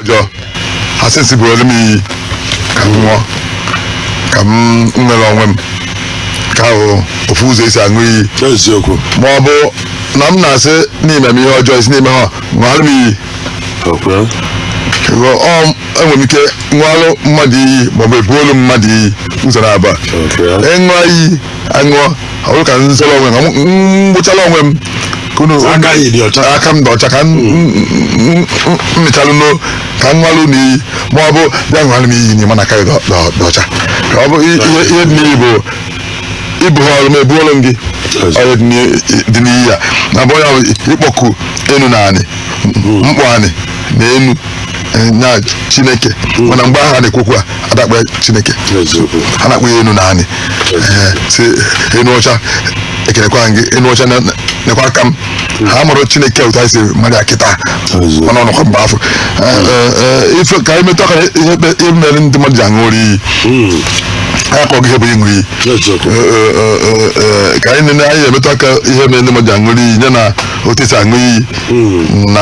ọjọọ ha sị si buolu m iyi ka m ṅụọ ka m nwere onwe m ka ahụ ofu ụzọ esi aṅụ iyi eziokwu ma ọ bụ na m na-asị n'ime m ihe ọjọọ ị sị n'ime ha ṅụọrọ m iyi okay Ego, ọ enwere m ike ṅụọrọ mmadụ iyi ma ọ bụ ebuolu mmadụ iyi ụzọ naabọ okay ịṅụọ iyi aṅụọ ọ bụrụ ka m zọrọ onwe m ka m m gbụchara onwe m ka unu Aka anyị dị ọcha. aka m dị ọcha ka m mechalụ no ka m ṅụalụ na iyi ma ọ bụ bịa ṅụalụ m iyi n'ime na aka gị dị ọ- dị ọ- dị ọcha ka ọ bụ i- ihe ihe dị n'iyi bụ i buoru m ebuoru m gị Yes. ọrụ dị n'iyi- dị n'iyi ya na bụ onye ahụ ịkpọku enu na anị mkpọ anị na enu eh, na chineke mana mgbe ahụ a na-ekwu okwu a da-akpọ chineke eziokwu a na-akpọ ya enu na anị Eh, si enu ọcha ekelekwa gị enu ọcha na- na- nekwa aka m ha amarọ chineke otu anyị si mara ya kịta Eziokwu. mana ọnọkwa mgbe afụ Eh, eh, eh, ife ka anyị metụ aka na ihe kpe- ihe mere ndị mmadụ ji aṅụ rị iyi Mm, anyị akọgo ihe bụ ịṅụ iyi eziokwu Eh, eh, eh, eh, ka anyị nene anyị emetụ aka ihe mere ndị mmadụ ji aṅụ rị iyi nya na otu esi aṅụ iyi na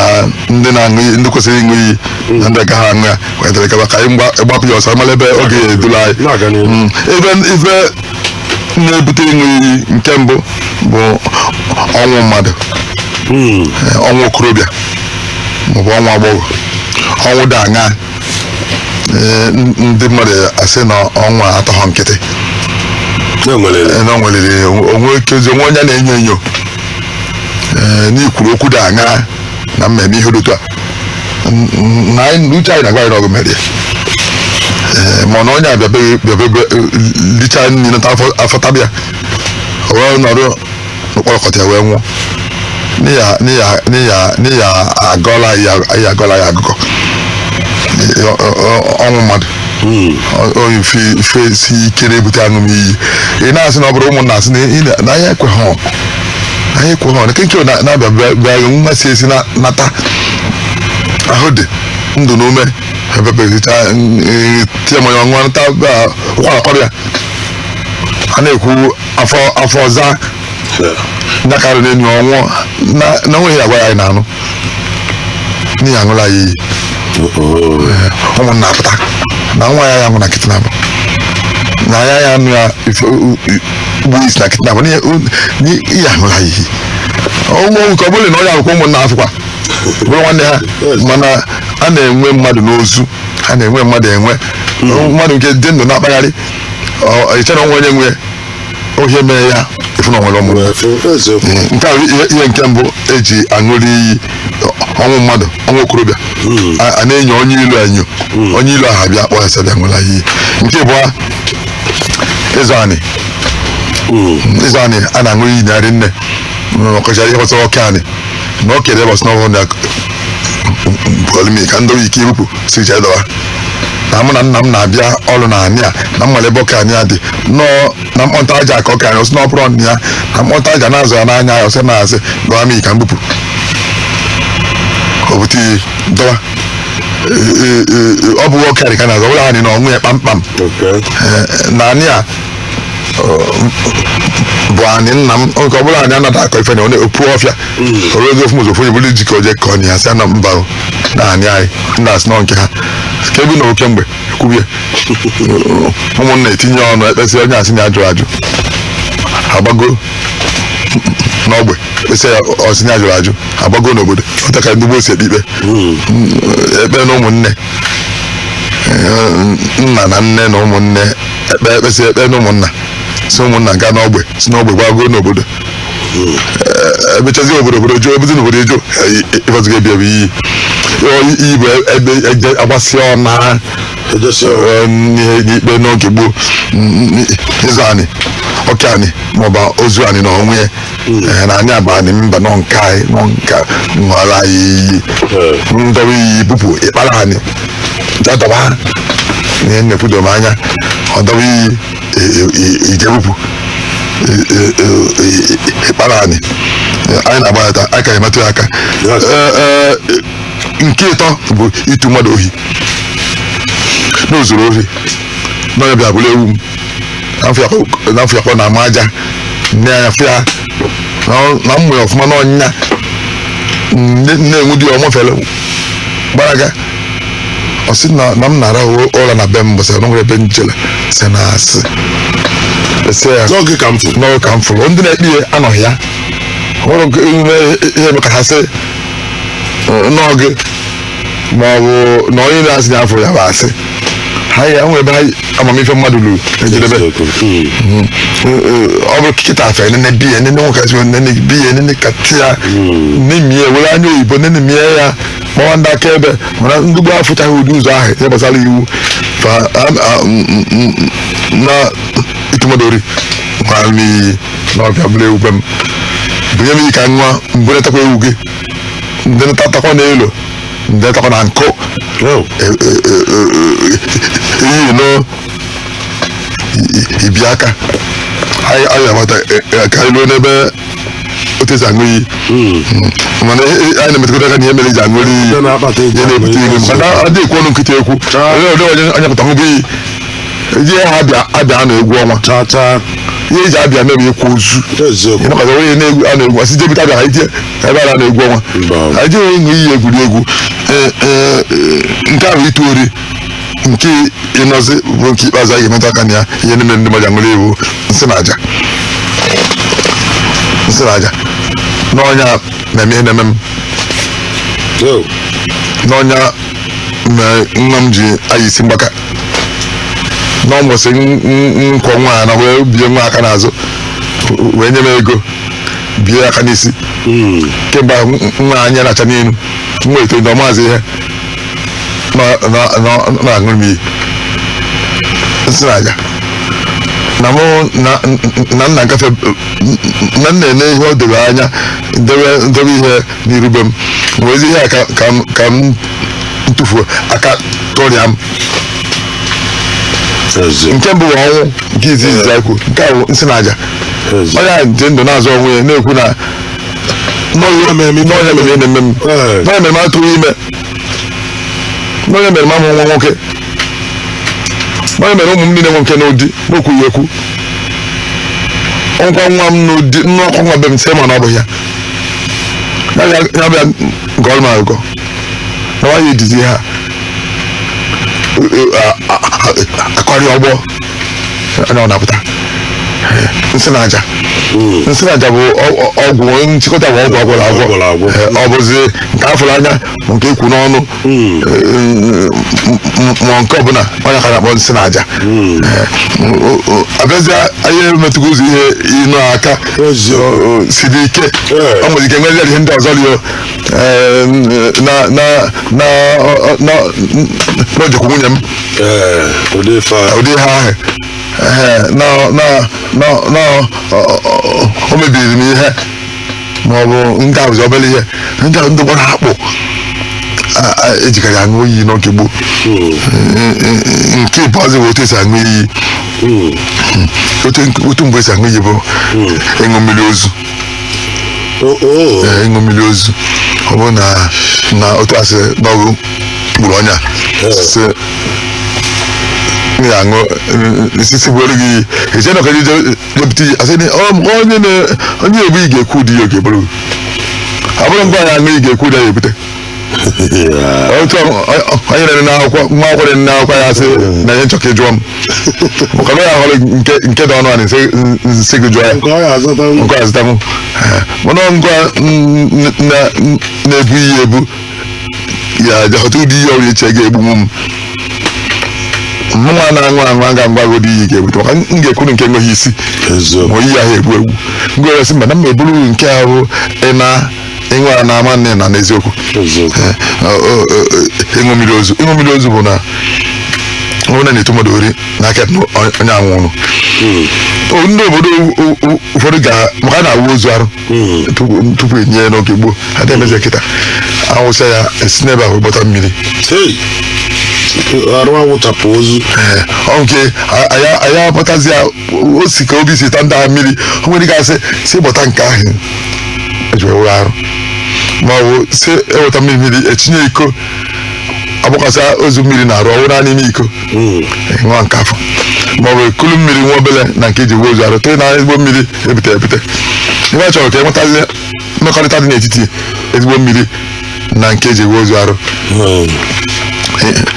ndị na-aṅụ iyi ndị kwesịrị ịṅụ iyi na ndị agaghị aṅụ ya wetara kaba ka anyị mgba- gbapụ ya ọsọ mara ebe ọ ga-edula anyị Na-aga n'ihu. Mm, ebe ife na-ebute ịṅụ iyi nke mbụ bụ ọnwụ mmadụ Mm. eh, ọnwụ okorobịa maọbụ ọnwụ agbọghọ ọnwụ dị aṅa eh, n- ndị mmadụ asị na ọnwụ a atọghọ nkịtị na e nwere eh, na o nweliri o nwe ike o nwe onye a na-enyo enyo ee n'i kwuru okwu dị aṅa na mmemme ihe dị otu a N- n- na anyị- na uche anyị na-agwa anyị na ọgwụ mere ee mana onye a bịa be gị bịa be be licha nri nata afọ afọ taba ya o wee nọrọ n'ụkpọrọkọta ya wee nwụọ n'ị ya n'ị ya n'ị ya n'ị ya agọla ya ya agọla ya agụgọ Ee, ọ- ọ- ọ- ọnwụ mmadụ onye ife ife si ike na-ebute aṅụm iyi ị na-asị na ọ bụrụ ụmụnna asị na ị na- na anyị ekweghọ anyị ekweghọ na Okeke na- na-abịa bịa- bịa gị nwa si esi na- nata ahụ dị ndụ na ume ebe be gị chata ya mmanya ọ ṅụa nata ụkwara kwaba ya a na-ekwu afọ afọ ọza nya karịrị enyi ọnwụ na na o nweghị ihe a gwara anyị na-anụ n'ị ya-aṅụla ya iyi ụmụnna apụta na nwa ya ya nwụ na nkịtị na ya ya nụ ya ife- u- u- gbuo isi na nkịtị n'ihi u- n'i- ihe aṅụla ya iyi ụmụ nke ọ bụla na onye a kwa ụmụnna afụkwa bụrụ nwanne ha mana a na-enwe mmadụ n'ozu a na-enwe mmadụ enwe mmadụ nke dị ndụ na-akpagharị ọ- ị chere o nwe onye nwe ya ohe mere ya efu na nwere ọmụmụ nke a bụ ihe ihe nke mbụ eji aṅụrị iyi ọnwụ mmadụ ọnwụ okorobịa A- a na-enyo onye ilo enyo onye ilo ahụ bịa kpọọ ya sị bịa ṅụla iyi nke ịbụa ịzọ anị ịzọ anị a na-aṅụ iyi na anị nne ọkọchara ihe gbasara oke anị na ọ kere bọs n'ọhụrụ na polimi ka ndị oyi ike ibupụ si jee dọwa na mụ na nna m na-abịa ọrụ na anị a na m malụ ebe oke anị a dị nọọ na mkpọnta aja a ka oke anyị ọ sị na ọ bụrọ ọnụ ya na mkpọnta aja na-azọ ya na anị ya ọ sị na asị dọwa m ka m bupụ ka o bute iyi dọwa Ee, ee, ee, ọ bụ oke anị ka a na-azọ ọ bụla anị na onwe ya kpamkpam Okay. Ee, na anị a bụ anị nna m nke ọbụla anyị anaghị akọ ife na ọ na-epu ọfịa oru oge ofu ụzọ buru ji ka o jee kọọ ya sị na mba o, na anị anyị ndị a sị na ọ nke ha ka ebi na oke mgbe ekwubie ụmụnna etinye ọnụ ekpesị onye a sị na ya jụrụ ajụ agbago n'ogbe kpesị ya ọ sị na ya jụrụ ajụ agbago n'obodo otu a ka ndị gboo si ekpe ikpe ekpe na ụmụnne nna na nne na ụmụnne ekpe ekpesị ekpe na ụmụnna si ụmụnna gaa n'ogbe si n'ogbe gbago n'obodo Ee, ebechazi obodo obodo jụọ ebezi n'obodo a jụ ife ọzọ ga-ebi ebi iyi Ọ, iyi bụ ebe eje agbasị ọna Ejesi ọna. Ee, n'ihe n'ikpe n'oge gboo n- n- ịzọ anị oke anị maọbụ ozu anị na onwe ya Ee, na anị a bụ anị mba na ọ nke anyị na ọ nke ṅụọla anyị iyi m dọba iyi bupụ ị kpara anị dọdọba ha na ihe na-ekwu doro m anya ọ dọba iyi e- e- e- ije bupụ e- e- e- e- ị kpara anị Ee, anyị na-agbalịta aka emetụ ya aka Yes. Ee, ee, nke ịtọ bụ itu mmadụ ohi na o zuru ohi na onye a bịa buru ewu m na a fụ ya ka ọ na-ama aja nanye ọfịa na m ma ya ọfụma na ọnwa na-enwu di ya ọ mafele gbalaga ọ sị na na m na-arahụ ụra na be m mbọsị na o nwere ebe m jele sị na asị ese ya na ọ gị ka m fụrụ na ọ gị ka m fụrụ ndị na-ekpe ya anọghị ya nwere nke ihe eme ka ha sị na ọ gị ma ọ bụ na onye na-asị ya afụ ya bụ asị ha ya enwe ebe ha amamife mmadụ luru ejedebe Eziokwu. Mm. ọ bụrụ kịta afọ enene biya enene nwekasị enene biya enene kati ya nemie were anya oyibo nene mie ya kpọwa ndị aka ebe mana ndị gboo afụchaghị ụdị ụzọ ahụ ihe gbasara iwu fa am- a- m- m- m- m- na itu mmadụ ori gwara m iyi na ọ bịa buru ewu be m bunye m iyi ka m ṅụa m burutakwa ewu gị ndị ntatakwa n'elu ndị ntakwa na nkụ Oh. iyi na ibi aka anyị anyị amata eh, eh, ka anyị ruo n'ebe otu esi aṅụ iyi Mm. mana ihe- ihe- anyị na-emetụta aka na ihe mere eji aṅụli iyi Ndị na-akpata eji ihe na-ebute aṅụ iyi. ihe maka na adịghị ekwu ọnụ nkịtị ekwu Chaa. onye ọdị onye anya pụta ṅụba iyi eji ha abịa abịa a na-egwu ọnwa tata ihe eji abịa mere ịkwa ozu eziokwu ịnọkọta ọnụ na egwu a na-egwu asị jebute abịa ha ije ebe a na-egwu ọnwa Mba. anyị jere ịṅụ iyi egwuregwu Ee, ee, ee, nke ahụ ịtụ ori nke ịnọzi bụ nke ikpeazụ anyị ga-emetụ aka na ya ihe niile ndị mmadụ aṅụrị iyi nsị na aja nsị na aja n'ọ nya na-eme ihe na-eme m Yo, n'ọ nya na nwa m ji ayị isi mgbaka n'ụbọsị nkwọ nwaanyị a wee bie nwa aka n'azụ wee nye m ego bie aka n'isi hmm. kemgbe nwa anya na-acha n'iru nwa eto na amazị ihe na-aṅụrụ m iyi nsị na aja na mụ na nna ngafe na nna ene ihe o debe anya debe ihe n'iru be m wezi ihe a ka- ka m- ka m ntụfuo aka tụrịa m eze nke mbụ bụ ọnwụ nke izizi ya kwuo nke a bụ nsị na aja eze onye a dị ndụ na-azọ onwe ya na-ekwu na n'ọ ya mere m n'ọ ya eme ihe na-eme m Ee. n'ọ ya mere m atụghị ime n'ọ ya mere m amụ nwa nwoke n'ọ ya mere ụmụ m niile nwe nke nọ di n'okwughị ekwu ọnkwa nwa m nọ di nnọkwa nwa be m sị ma na ọ bụ ya ya bịa ya bịa gọrọ m agụgọ na nwaanyị edizi ha akọrị ọgbọ ọ nya na-apụta nsị na aja nsị na aja bụ ọ- ọ- ọgwụ nchịkọta bụ ọgwụ agwọlụ agwọ Agwọlụ agwọ. Eh, ọ bụzi nke afụrụ anya ma nke ekwu n'ọnụ ma nke ọbụla ọ nya ka a na-akpọ nsị na aja abịazi anyị emetụgo ụzọ ihe ịnọ aka siri ike ọ nwere ike nwere ihe ndị ọzọ rio n'o jekwu nwunye m ụdị ihe ahụ na o mebiri m ihe ma ọ bụ ndị ọzọ obere ihe ndị ahụ ndị gbara akpụ a- a- ejikarị aṅụ iyi n'oge gboo nke ikpeazụ bụ otu esi aṅụ iyi otu nke- otu mgbe esi aṅụ iyi bụ ịṅụ mmiri ozu ee, ịṅụ mmiri ozu ọ bụrụ na na otu asị n'ọ gị gburu onye a sị m ga-aṅụ nsisi bụ elu gị iyi eche na ọkaji jepụta iyi asị na ọ- onye na onye ebu iyi ga-ekwu ụdị ya ọ ga-ebu abụrọ ngwa ya aṅụ iyi ga-ekwu ụdị ya ebute otu ọ- ọ- onye na-ere n'akwụkwọ nwa akwụkwọ na-ere n'akwụkwọ ya sị na ihe nchọka ịjụọ m maka na ya hụrụ nke nke dị ọnụ a na-esi nsị gị jụọ ya nke ọ ya azụta ngwa azụtamụ mana ngwa n- n- na- n- na-ebu iyi ebu ya jee họta ụdị iyi ọ na-eche ga-egbunwu m mụnwa na-aṅụ aṅụ aga m agwa gị ụdị iyi ga-ebute maka m ga-ekwuru nke enweghị isi ma iyi ahụ egbu egbu m ga-eresị mba na m eburu nke ahụ ị na ịṅụ a na-ama nne na n'eziokwu ịṅụ mmiri ozu ịṅụ mmiri ozu bụ na onye na-eto mmadụ ori n'aka onye anwụrụ ndị obodo ụfọdụ ga-ama ka a na-awụ ozu arụ tupu tupu enie ya n'oge gboo a na-emezi ya kịta awụsa ya esi n'ebe ahụ gbọta mmiri Hey! arụ awụchapụ ozu Ee, ọ nke a- anyị anyị akpatazi ya o si ka obi si ta ndị ahụ mmiri o nwere ike asị si gbọta nke ahụ eji wee wụrụ arụ ma ọ bụ si eweta mmiri mmiri etinye iko agbakwasa ozu mmiri n'arụ ọ wụnye n'ime iko nwa nke afụ maọbụ ekulu mmiri nwa obele na nke eji wụọ ozu arụ tee na ezigbo mmiri ebute ebute ihe a chọrọ ka enwetazi mmekọrịta dị n'etiti ezigbo mmiri na nke eji wụọ ozu arụ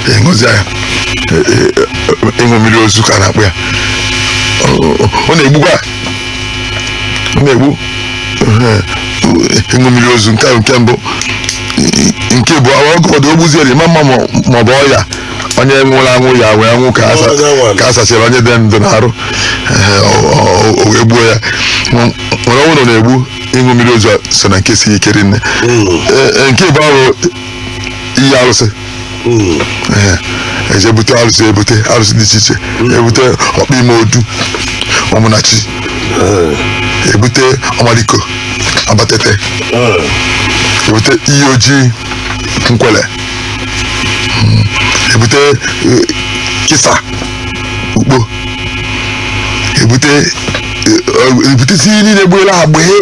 ịṅụzi ya ịṅụ mmiri ozu ka a na-akpọ ya ọ na-egbukwa ọ na-egbu ịṅụ mmiri ozu nke nke mbụ nke bụ ọgụ ọdụ ogbuziere ma mma ma ọ bụ ọya onye nwụrụ anwụ ya wee nwụ ka asa- Onye nwụrụ. ka a sachara onye dị ndụ n'arụ Ehe, ọ- ọ- ọ wee gbuo ya Nw- nwere onye ọ na-egbu ịṅụ mmiri ozu a so na nke si ike rinne Ee, ee, nke bụ ịṅụ iyi arụsị Ehe, eje ebute arụsị ebute arụsị dị iche iche ebute ọkpịmọdụ ụmụnachi ebute ọmaliko abatete ebute iyi oji nkwele ebute eh, kisa ukpo ebute eh, ebute isi iyi niile gbuela ha gbee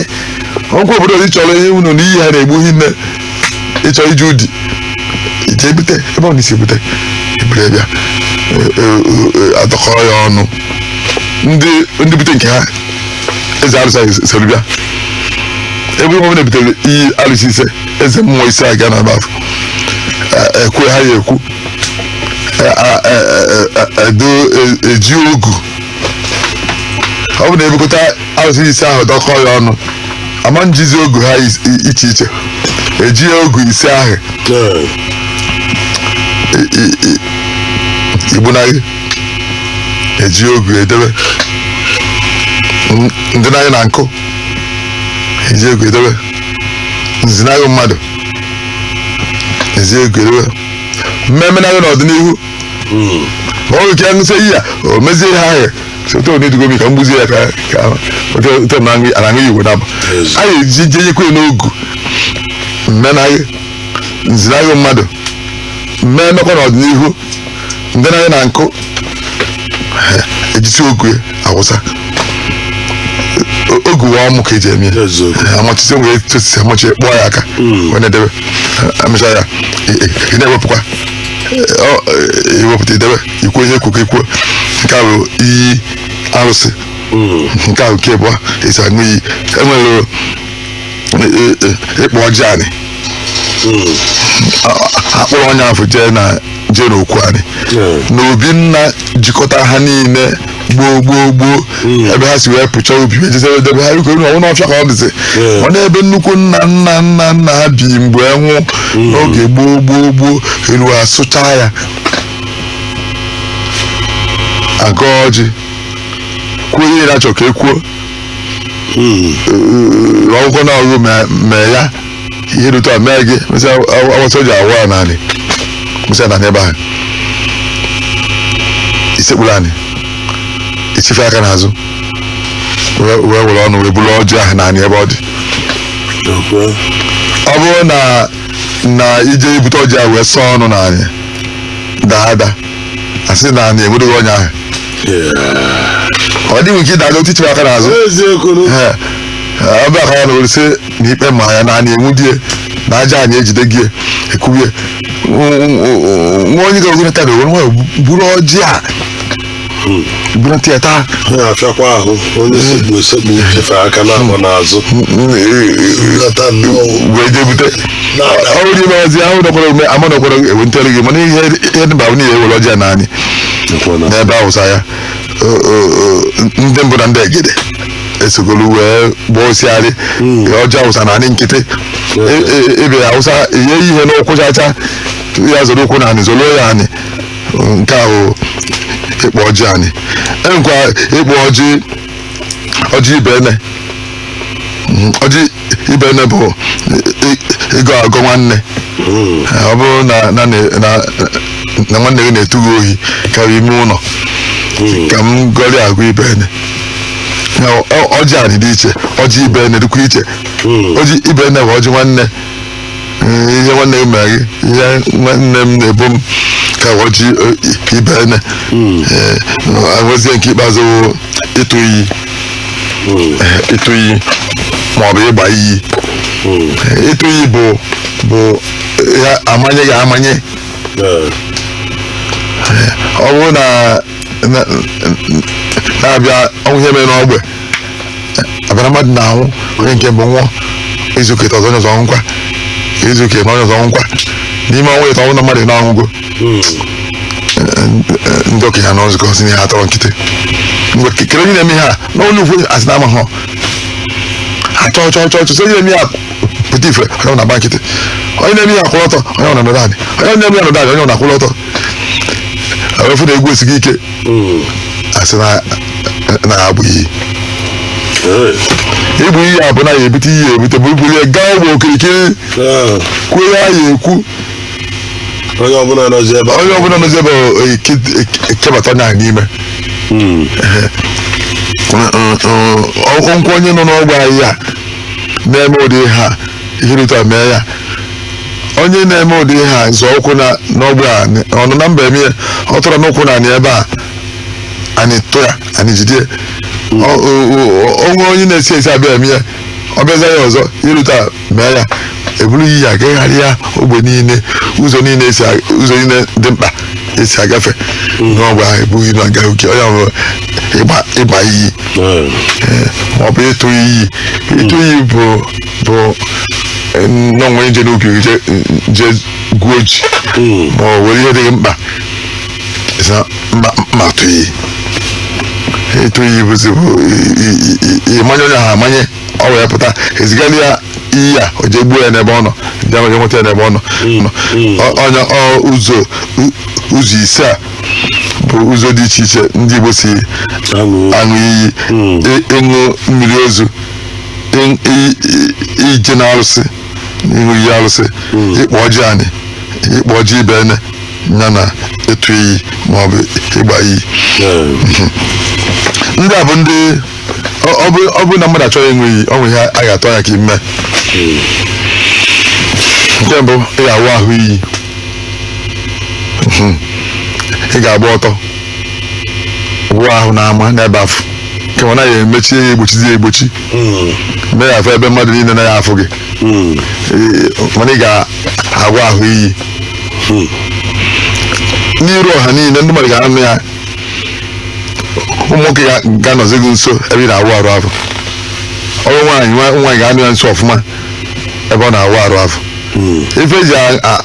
ọkwa obodo ọzọ ịchọrọ ihe unu na iyi ha na-egbu hinne ịchọ ije ụdị ije ebute ebe ọ na-esi ebute ebute bịa eh, eh, eh, adọkọrọ ya ọnụ ndị ndị bute nke ha eze arụsị soro bịa ebe ọ bụ na ebutere iyi arụsị ise eze mmụọ ise aga na baf ekwe ha ya ekwu Eh, ah, eh, eh, eh, edo eh, eji ogu ọ bụ na ebukọta arụsị ise ahụ dọkọ ya ọnụ ama njizi ogu ha is- i- iche iche eji ogu ise ahụ Ee. i- i- i- mgbunaghị eji ogu edebe N- ndị naghị na nkụ eji ogu edebe nzinaghị mmadụ eji ogu edebe mmemenaghị n'ọdịnihu ma ọ bụ ike ṅụsị iyi ya o mezie ihe ahụ sote onye dugo m iyi ka m gbuzie ya ka ka ote na aṅụ igwe na anyị eji jenyekwe n'ogu mmenaghị nzinaghị mmadụ mee mmekọ n'ọdịnihu ndị naghị na nkụ ejisi ogu awụsa O- ogu wụ ọmụ ka eji eme ya Eziokwu. amachisi wee tosisi amachi kpụọ ya aka wee na-edebe amịcha ya ị- ị- ị na-ewepụkwa Ọ- ị- iwepụta idebe ikwu ihe e kwuo ka ikwuo nke a bụ iyi arụsị nke a bụ nke abụọ esi aṅụ iyi enwere e- e- e- ịkpọ ọjị anị akpọrọ onye afụ jee na jee n'okwu anị na obi nna jikọta ha niile gboo gboo gboo ebe ha si wee pụcha obi wee jezi ebe debe ha biko na ọ wụ n'ọfịa ka ọ dịzi ọ na-ebe nnukwu nna nna nna nna ha bi mgbe nwụ n'oge gboo gboo gboo elu asụcha ya agọ ọjị kwuo ihe na-achọ ka e kwuo rụọ ọ wụkwa na ọ gị mee- mee ya ihe dị otu a mee gị mesịa awụsa ọjị awụ ya n'anị mesịa na n'ebe ahụ isekpuru anị ichife aka n'azụ wee wee were ọnụ wee buru ọjị ahụ n'anị ebe ọ dị Okwe. ọ bụrụ na na ije ibute ọjị ahụ wee sọọ ọnụ n'anị daa ada asị na anị enwudie onye ahụ ọ dịghị nke ịdaga otu ichife aka n'azụ eziokwu Ee, ee, ọ bịa aka ya n'anị ewere sị na ikpe ma ya na anị enwudie na aja anị ejide gị ekwubie nwa onye gara ogologo taa na o were ọnụ buru ọjị a buru ntị ya taa ọ na-afịakwa ahụ onye sekpu esekpu chife aka n'ahụ n'azụ lọta nnọọ wee jee bute na-ada ọrụ dị maazị ahụ nọkwara ome ama nọkwara ewe ntịọrụ gị mana ihe ihe dịba bụ niile ewere ọjị ya n'anị Nkwụna. n'ebe awụsa ya O- o- o, ndị mbụ na ndị egede esogolu wee gbaa osiarị ọjị awụsa na anị nkịtị E- e- ebe awụsa ihe ihe n'ụkwụ chacha ya zọrọ ụkwụ na anị zọrọ ya anị nke ahụ ịkpọ ọjị anị enwekwa ịkpọ ọjị ọjị ibenne Mm, ọjị ibenne bụ ị- ịgọ agọ nwanne ọ bụrụ na na na- na nwanne gị na-etu gị ohi karịa ime ụlọ ka m gọrị agọ ibenne na ọ- ọjị anị dị iche ọjị ibenne dịkwa iche ọjị ibenne bụ ọjị nwanne Mm, ihe nwanne gị mere gị ihe nwanne m na-ebo m ka wa ọjị ibenne Eh, enwezie nke ikpeazụ wụ ịtụ iyi Eh, ịtụ iyi ma ọ bụ ịgba iyi Eh, ịtụ iyi bụ bụ ya amanye gị amanye Eh, ọ bụrụ na na- na-abịa o nwee ihe mere n'ogbe abịara mmadụ na-anwụ onye nke mbụ nwụọ izuụka ịtọ ọzọ onye ọzọ nwụkwa izuụka ịtọ onye ọzọ nwụkwa n'ime ọnwa ịtọ ọnwụ na mmadụ na-anwụgo ndị okenye anọ nzukọ sị na ihe a atọrọ nkịtị mgbe ke- kedụ onye na-eme ihe a n'ụlọ ukwu asị na amaghị achọọ chọọ chọọ chọọ sị onye na-eme ihe a pụta ife onye ọbụna agba nkịtị onye na-eme ihe a kwụrụ ọtọ onye ọbụna anọdụ anị onye na-eme ihe a nọdụ anị onye ọbụna akwụrụ ọtọ afụ na egwu esigo ike asị na na ha agba iyi ịgba iyi a bụ na ya ebute iyi ebute bụ ibuli ya gaa ogbe okirikiri Ah, kwuo ya ya ekwu onye ọbụla nọzi ebe a. onye ọbụla nọzi ebe ọ- ọ- eke- eke- ekebata onye ahụ n'ime Mm. ọgwụgwọ onye nọ n'ogbe a na-eme ụdị ihe a ihe dị otu a mee ya onye na-eme ụdị ihe a zọ ụkwụ na n'ogbe a n- ọ nọ na mba eme ya ọ tọrọ n'ụkwụ na anị ebe a anị tụ ya anị jide ya. Ọ- o- o- onwe onye na-esi esi abịa eme ya ọ bịaza ya ọzọ ihe dị otu a mee ya eburu iyi a gagharịa ogbe niile ụzọ niile esi a- ụzọ niile dị mkpa esi agafe n'ogbe ahụ ebughị na aga oke onye ọbụla ịgba ịgba iyi Ee. maọbụ ịtụ iyi ịtụ iyi bụ bụ eh, na onwere nje n'ubi gị je- je gwuo ji ma ọ were ihe dị gị mkpa ị sị mma mma atụ iyi ịtụ iyi bụzi bụ i- i- i- i- ịmanye onye ahụ amanye o wee pụta ezigara ya iyi a o jee gbuo ya n'ebe ọ nọ ndị amaghị nweta ya n'ebe ọ nọ nọ. Ọ- onye ọ ụzọ u- ụzọ ise a bụ ụzọ dị iche iche ndị Igbo si aṅụ iyi ị- ịṅụ mmiri ozu i- i- i- ije na arụsị ịṅụ iyi arụsị ịkpa ọjị anị ịkpa ọjị ibenne ya na ịtụ iyi maọbụ ịgba iyi ndị a bụ ndị ọ- ọ bụ- ọ bụ na mmadụ achọọ ịṅụ iyi ọ nwere ihe a ga-atụ anya ka i mee nke mbụ ị ga-awụ ahụ iyi ị ga-agba ọtọ wụọ ahụ n'ama n'ebe afụ ka ọ naghị emechi ya egbochizi ya egbochi mee ya afọ ebe mmadụ niile naghị afụ gị Ee, mana ị ga-awụ ahụ iyi n'iru ọha niile ndị mmadụ ga-anọ ya ụmụ nwoke ga- ga-anọzi gị nso ebe ị na-awụ arụ afụ ọ bụ nwaanyị nwa- nwaanyị ga-anọ ya nso ọfụma ebe ọ na-awụ arụ afụ ife eji a- a-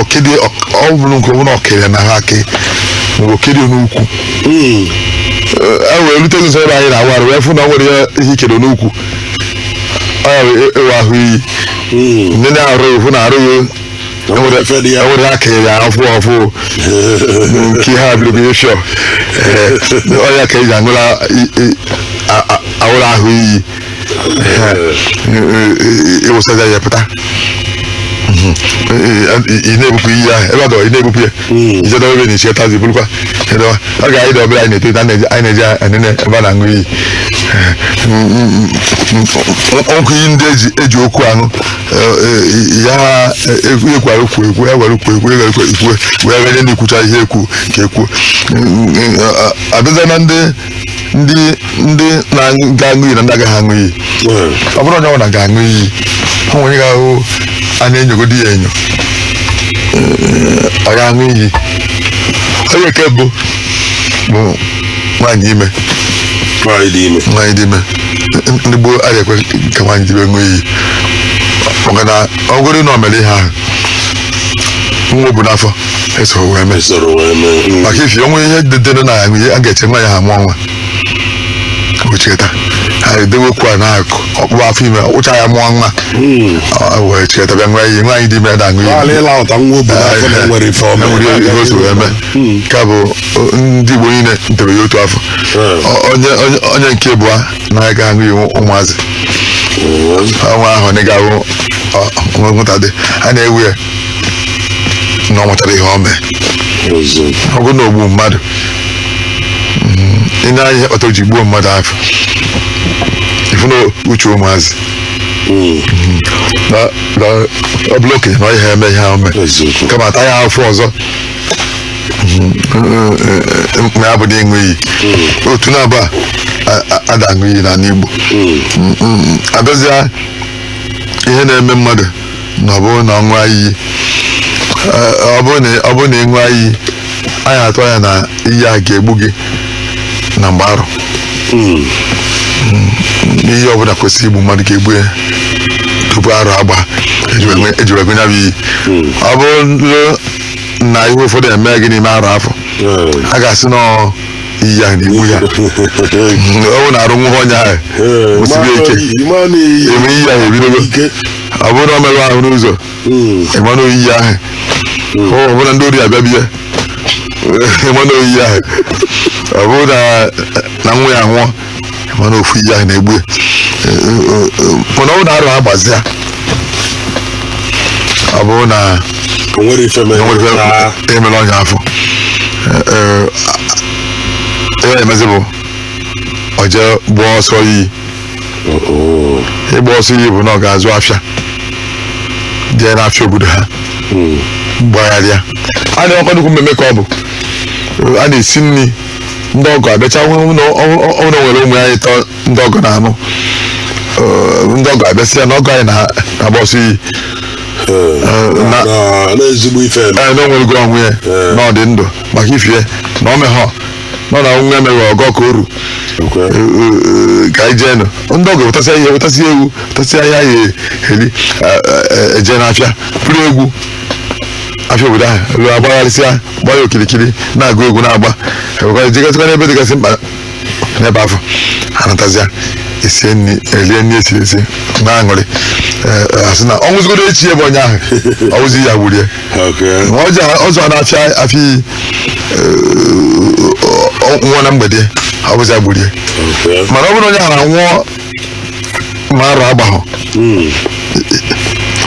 o kedo ọ bụrụ nke ọbụla o kere na ha aka mgbe o kedo n'ukwu hmm. eh, e wee rute nso ebe anyị na-awụ arụ wee fụ na ọ nwere ya ihe e kere n'ukwu ọ ya-awụ ahụ iyi hmm. ndị na-arụ ya fụ na arụ ya enwere aka ya afụ afụ nke ihe a bịrịbịrị shọ eh, ọ ya ka eji aṅụla awụrụ ahụ iyi ị wụsịa ya pụta ị na-ebupụ iyi ahụ ebe adọ ị na-ebupụ ya ije dọba ebe na-echi tazi bụrụkwa ịdọwa oge anyị dị obere anyị na-eto anyị na-eje enene ebe a na-aṅụ iyi ọkụ iyi ndị eji okwu aṅụ ya ekwara okwu ekwu ya gwara okwu ekwu ya gwara okwu ekwu wee ganye na ekwucha ihe ekwu ka ekwu abịaza na ndị ndị ndị ga-aṅụ iyi na ndị agaghị aṅụ iyi ọ bụrụ onye ọbụla ga-aṅụ iyi ha nwere ga-ahụ a na-enyogodi ya enyo ọ ga-aṅụ iyi onye nke bụ bụ nwaanyị ime nwaanyị dị ime nwaanyị dị ime ndị gboo agaghị ekwe ka nwaanyị dị ime ṅụọ iyi maka na ọ bụrụ na o mere ihe ahụ nwa o bu n'afọ esoro wee mee soro wee mee maka ifi onwe ihe dedere na ya a ga-eche nwaanyị a mụọ nwa ocheta ha edewekwu a na-akụ ọkpụkpụ afọ ime ụcha ya mụọ nwa Mm. Ọ wee cheta bịa ṅụọ iyi nwaanyị dị ime na-aṅụ Ala iyi ịla ụta nwa obodo afọ na enwere ife ọma enwere ihe ihe o si wee mee ka bụ o, ndị Igbo niile ntere ya otu afọ Mm. Ọ- onye onye- onye nke bụ a na-aga aṅụ iyi ụmụazị ọnwa ahụ na ga-ahụ nwụta dị a na-ewu ya na ọ matara ihe ọ mee ọ bụrụ na o gbuo mmadụ mm, ị na-anya ihe kpatara o ji gbuo mmadụ afụ ị fụ na uche ụmụazị na na ọ bụlụ okenye na ọ ihe eme ihe ahụ mee Eziokwu. kama ata ya afụfụ ọzọ Mm, mm, mm, ma ya bụ na ịṅụ iyi otu na-abụ a a- a- ada aṅụ iyi n'ala Igbo Mm, mm, mm. abịazịa ihe na-eme mmadụ na ọ bụrụ na ọ ṅụọ iyi eh, ọ bụrụ na ọ bụrụ na ị ṅụọ iyi a ya-atụ anya na iyi a ga-egbu gị na mgbe arọ ihe ọ bụla kwesịrị igbu mmadụ ga-egbu ya tupu arọ agba eji wee gaa ya bụ iyi ọ bụrụ na ihe ụfọdụ eme gị n'ime arọ afụ a ga-asị na ọ iyi ya na-egbu ya ọ bụ na arụ nwụhụ onye ahụ kwụsịrị ike ịma na iyi ya ebidogo ike ọ bụrụ na ọ merụ ahụ n'ụzọ ịma na ọ iyi ahụ ọ ọ bụrụ na ndị ori abịa be ya ịma na ọ iyi ahụ ọ bụrụ na na nwa ya nwụọ ịma na ofu iyi ahụ na-egbu ya. Eh, eh, eh, mana ọ bụrụ na arọ agbazia ọ bụrụ na o nwerọ ife mere enwere na- ife emere onye afụ ihe emezi bụ ọ jee gbaa ọsọ iyi ịgba ọsọ iyi bụ na ọ ga-azụ afịa jee n'afịa obodo ha gbagharịa a na-enwekwa nnukwu mmemme ka ọ bụ a na-esi nri ndị ọgọ abịacha ọ bụrụ na o nwere ụmụ nwanyị atọ ndị ọgọ na-anụ Eh, ndị ọgọ abịasịa na ọgọ anyị na- na-agba ọsọ iyi na- na ezigbo ife eme. ee na o nwerego onwe ya na ọ dị ndụ maka ife a na ọ mehọ nọ na nwa emeghị ọgọ ka oru ka anyị jee nụ ndị ọgọ wetasịa ihe wetasịa ewu wetasịa ihe a ya-eri eje n'afịa buru egwu afịa obodo ahụ eluo agbagharịsịa gba ya okirikiri na-agụ egwu na-agba ewekwara jegasịkwa n'ebe dịgasị mkpa n'ebe afụ anatazịa esie nri elie nri esiri esi na-aṅụrị asị na ọ nwụzigodu echi bụ onye ahụ ọ wụzi ya gburu ya Okay. Ma ọ zụọ ọ zụọ na afịa afụ nwụọ na mgbede ọ bụzi ya gburu ya Okay. mana ọ bụrụ onye ahụ anwụọ ma arọ agbahọ Mm.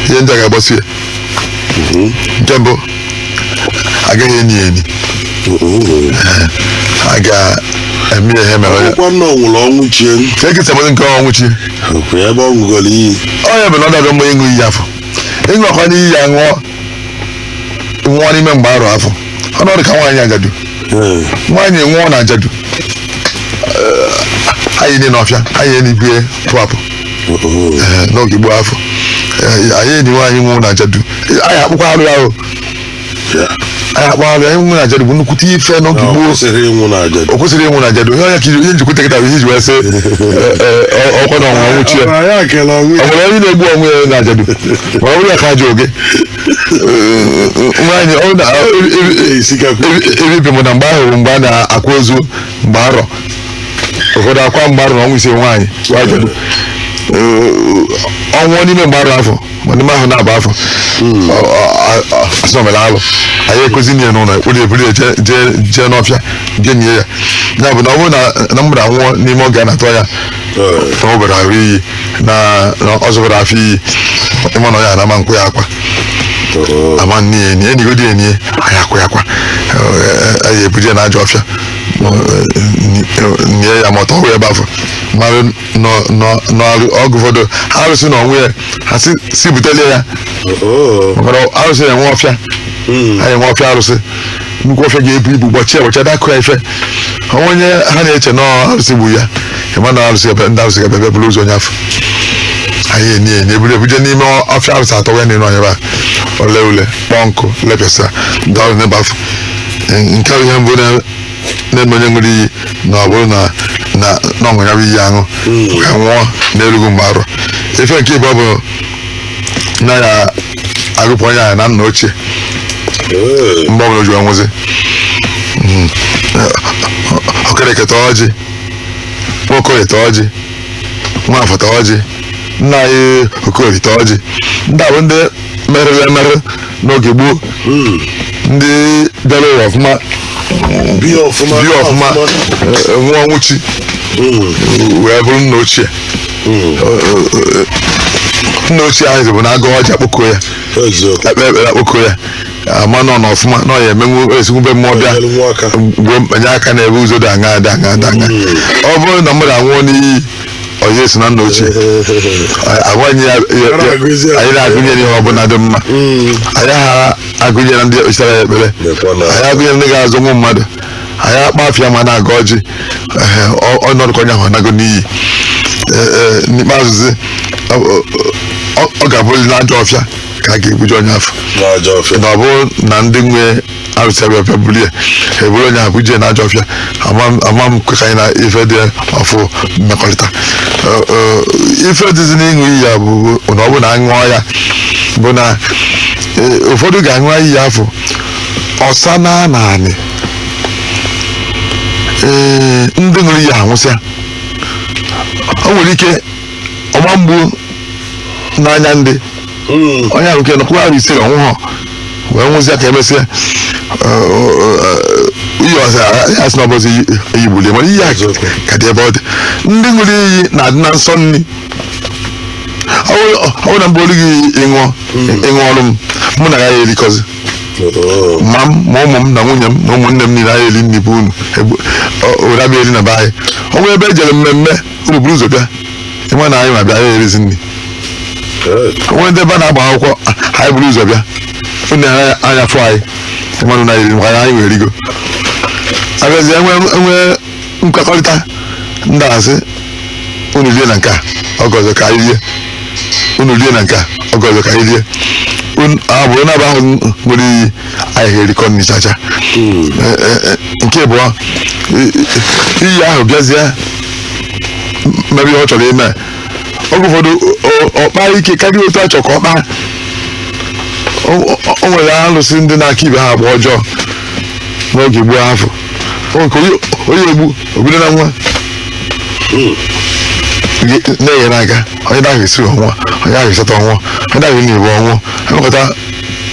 ihe ndị a ga-agbasi ya nke mbụ a gaghị eni ya eni Mm. a ga-eme ya ihe mere onye Ọkwa na ọ nwụrọ ọnwụ chi ya. ka ekesa nke ọnwụ chi Okay. Ebe ọ ṅụgoro iyi. nya bụ na ọ dabịa mgbe ịṅụ iyi afụ ị ṅụọkwanụ iyi ya ṅụọ nwụọ n'ime mgbe arọ afọ ọ nọdụ ka nwaanyị ajadu Ee. nwaanyị nwụọ na ajadu Eh, a ya-eni n'ọfịa a ya-eni ibe pụapụ Oo. n'oge gboo afọ Eh, a ya-eni nwaanyị nwụọ na ajadu a ya-akpụkwa alụ ya o a ya-akpụ alụ ịnwụ na ajadu bụ nnukwute ife n'oge gboo kwesịrọ ịnwụ na aja o kwesịrọ ịnwụ na ajadu ihe onye ka ihe njikwute kịta bụ ihe e ji wee sị ọkwa na ọnwụ ọnwụ chie Ọbara ya kele ọnwụ ọ nwere onye na-egbu onwe ya na ajadu ma ọ bụrụ ya ka ajọ oge nwaanyị ọ na ya isikakwa ebibi m na mgbe ahụ bụ mgbe a na-akwa ozu mgbe arọ ụfọdụ akwa mgbe arọ na ọnwa ise nwaanyị bụ ajadu Ee, ọ nwụọ n'ime mgbe arọ afọ ma n'ime arọ naabọ afọ a sị o mere alụ a ya-ekwezi nie n'ụlọ ekpụrụ eburu ya jee- jee- jee n'ọfịa jee nie ya ya bụ na ọ bụrụ na na mmadụ anwụọ n'ime oge a na-atọ ya na ọ bara ahụ iyi na na ọ zụbara afọ iyi ị ma na ọ ya anama nkwa ya akwa a ma nni ya eni e nigodi eni a ya-akwa ya akwa Eh, a ya-ebuje na ajọ ọfịa nie ya ma ọ tọwa ya ebe afọ mara nọ- nọ- n'ọrụ oge ụfọdụ arụsị na onwe ya ha si si butelu ya Oh. maka na arụsị na-enwe ọfịa Mm. ha na-enwe ọfịa arụsị nnukwu ọfịa ga-ebu ibu gbọchie gbọchie dakụ ya ife o nwee onye ha na-eche na ọ arụsị gburu ya ị ma na arụsị ga- ndị arụsị ga-abịa buru ozu onye afọ a ya-eni eni e buru ebuje n'ime ọfịa arụsị a tọwe n'enu ọnyebe a o lee ule kpọọ nkụ lepịasa ndị ọrụ n'ebe afọ nke bụ ihe mbụ na eme onye ṅụrụ iyi na ọ bụrụ na na na ọ ṅụọ ya bụ iyi aṅụ wee nwụọ n'erughị mgbe arọ ife nke ịbụọ bụ na a ya-agụpụ onye ahụ na nna ochie Ee. mgbe ọbụla o ji wee nwụzi Mm. Okereke taa ọjị Nwaokorie taa ọjị Nwafọ taa ọjị nna anyị Okorie taa ọjị ndị a bụ ndị mere emere n'oge gboo ndị bịara ụwa ọfụma bi ọfụma bi ọfụma eh, eh, nwụọ nwụchi wee bụrụ nna ochie Eh, eh, eh, nna ochie ahụ bụ na a gọọ ọjị akpọkuo ya eziokwu e kpee ekpere akpọkuo ya a ma na ọ nọ ọfụma na ọ ya-emenwu esikwu be mmụọ bịa nyere nwa aka. mgbe mkpanye aka na-ebe ụzọ dị aṅa dị aṅa dị aṅa ọ bụrụ na mmadụ anwụọ n'iyi onye si na nna ochie agwanye ya a ya na-agụnye n'ihe ọbụla dị mma a yaha agụnye na ndị ekpechitara ya ekpere a ya-agụnye na ndị ga-azọ ụmụ mmadụ a ya-akpọ afa ya ma a na-agọ ọjị ọ nọdụ ka onye ahụ anago n'iyi n'ikpeazụzi ọ ga-abụli n'ajọ ọfịa ka a ga-ebuje onye afọ na ọ bụrụ na ndị nwe arụsị abịa bịa bulie eburu onye ahụ bujee n'ajọ ọfịa ama m kwe ka anyị na ife dị ọfụ mmekọrịta ife dịzi n'ịṅụ iyi ya bụ na ọ bụ na aṅụọ ya bụ na ụfọdụ ga-aṅụ iyi afụ ọsa na naanị ee ndị ṅụrụ iyi anwụsịa o nwere ike ọgba mgbu n'anya ndị onye ahụ nke nọkwa ahụ ise ọnwụ ha wee nwụzie ka emesịa iyi ọzọ ya sị na ọ bụzi iyi gbulu ya mana iyi a Eziokwu. ka dị ebe ọ dị ndị ṅụrụ iyi na-adị na nsọ nri ọ bụrụ- ọ bụrụ na mgbe olu gị ịṅụọ ịṅụ ọrụ m mụ na ya erikọzi Oo. ma m ma ụmụ m na nwunye m na ụmụnne m niile anyị eri nri be unu Ebu- ọ- unu abịa eri na be anyị o nwee ebe e jere mmemme unu buru ụzọ bịa ịma na anyị ma bịa ya erizi nri o nwedị ebe a na-agba akwụkwọ anyị buru ụzọ bịa unu ene anya fụ anyị ịmanụ na iri maka anyị wee rigo abịazie nwee nkwekọrịta ndị asị unu rie na nke a oge ọzọ ka anyị rie unu rie na nke a oge ọzọ ka anyị rie unu abụrụ na-aba ahụ nwere iyi anyị ga-erikọ nri chacha Eh, eh, eh, nke bụ iyi ahụ bịazie mebe ihe ọ chọrọ ime oge ụfọdụ ọ- ọ kpaa ike karịa otu a chọrọ ka ọ kpaa o o- o nwere alụsị ndị na-aka ibe ha agba ọjọọ n'oge gboo afụ O nke onye- onye egbu o bido na nwa Ge- na-enyere aka onye na-ahụ esi ọ nwụọ onye ahụ esota ọ nwụọ onye na-ahụ na-ebu ọ nwụọ emekọta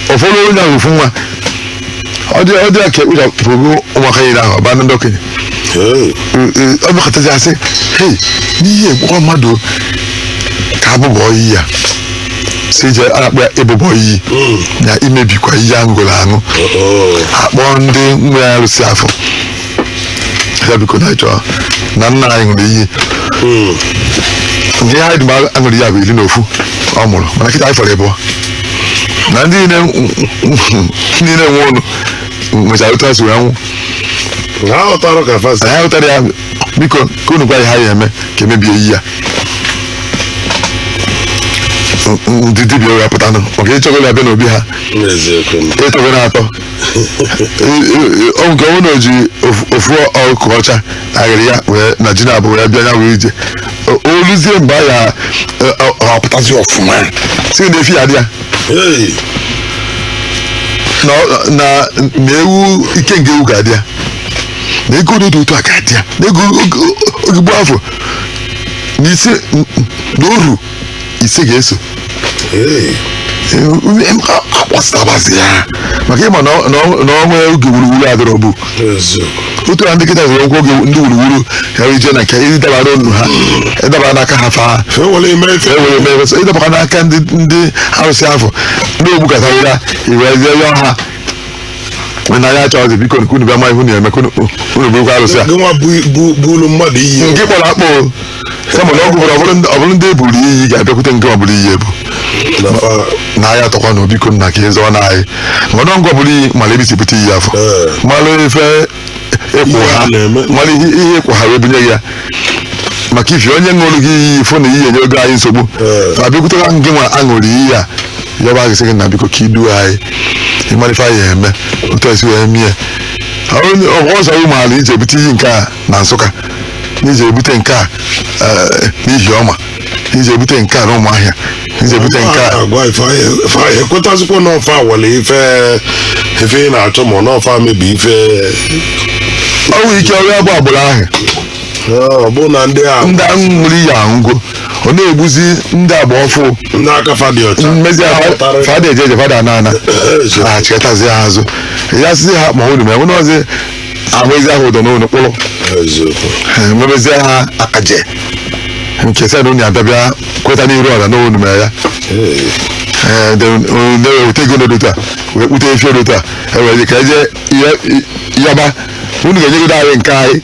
ọ fọdụ onye ahụ ofu nwa ọ dị ọ dị ya ka ekpochapụrụ ụmụaka niile ahụ ọ baa na ndị okenye Hey. ọ bịakọtazi asị hei n'ihe egbukwa mmadụ o, ka abụbọ iyi ya si je a na-akpọ ya ịbụbọ iyi na imebikwa iyi aṅụgolo aṅụ Oh. akpọọ ndị nwe arụsị afụ ya biko na anyị chọrọ na nna anyị ṅụrụ iyi ihe anyị dị ma aṅụrụ iyi a bụ iri na ofu ọ mụrụ mana kịta anyị fọrọ ịbụọ na ndị niile niile nwụrụnụ nwechara otu ha si wee nwụ ha ghọtara ka fa si anyị hụtara ya biko ka unu gwa ya ha ya eme ka emebie iyi a ndị dibịa wee pụtanụ maka ịchọgoro ya bịa n'obi ha n'eziokwu ịtọgoro atọ o nwee ike ọ na-eji ofu- ofu ọkụkọ ọcha agịrị ya wee na ji na-abụ wee bịa ya wee ije O- oluzie mgbe a ya ọ pụtazi ọfụma sị na efi ga-adị ya Hey, na ọ- na na ewu ikenga ewu ga-adị ya na ego dị otu a ga-adị ya na ego oge gboo afụ na isi na oru ise ga-eso akpọsịtabazi ya maka ịma na ọ- na ọ- na o nwee oge wuruwuru adịrọ bụ otu na ndị kịta zụrụ ụkwụ oge ndị wuruwuru ka ije na nke ị dabara ọnụ ha ị dabara n'aka ha faa e were eme ife e were mere so ị dabakwa n'aka ndị ndị arụsị afụ ndị o gbukọtara ya iwezie ya ha mana ya achọghịzi biko unu bịa ma ihe unu na-eme ka unu unu burukwa arụsị a gịnwa bu bu- buulu mmadụ iyi nke kpọrọ akpọ kama na ọ gwụ ọ bụrụ ndị- ọ bụrụ ndị e buuru iyi ga-abịakwute nke buru iyi ebu na fa na ahịa atọkwa na o biko nna ka ị zọọ anyị mana ngị nwa buru iyi mara ebe i si buta iyi afụ Ee. mara ife ị kwụ Ihe ha a na-eme. mara ihe ihe ị kwụ ha wee bunye gị ya maka ifi onye ṅụrụ gị iyi ị fụ na iyi enyego anyị nsogbu Ee. ma bịakwutara ngị nwa a ṅụrụ iyi ya ya bụ a ga-asị gị na biko ka i duo anyị ị mara ife anyị ya-eme otu e si wee mie ọzọ ị maara i je bute iyi nke a na Nsụka n'i je bute nke a eh, n'Ihiọma n'i je bute nke a na Ụmụahịa n'i je bute nke a agwa ife anyị- ife anyị ekwetazikwa n'ọ fa awala ife ife ị na-achọ ma n'ọ fa mebi ife o nwere ike ọrịa baa agbụrụ ahụ ọ bụ na ndị a ndị ahụ ṅụrụ iyi anwụgo ọ na-egbuzi ndị agba ọfụụ ndị aka fa dị ọcha mezie Pụtara- fa ada eje eje fa ada ana ana Eje. a chịkọtazi ha azụ ya sịzị ha ma unu mee nwere ọzi ahụ ezi ahụ ụdọ n'ụlọ kpụrụ eziokwu ha emebezie ha akaje nke sị na unu ya-abịa bịa kweta n'iru ọra n'unu mere ya Ee, Ee, de- o- de- weta ego dị otu a wee kpụta efi dị otu a e were ka e je yọba unu ga-enyegodo anyị nke anyị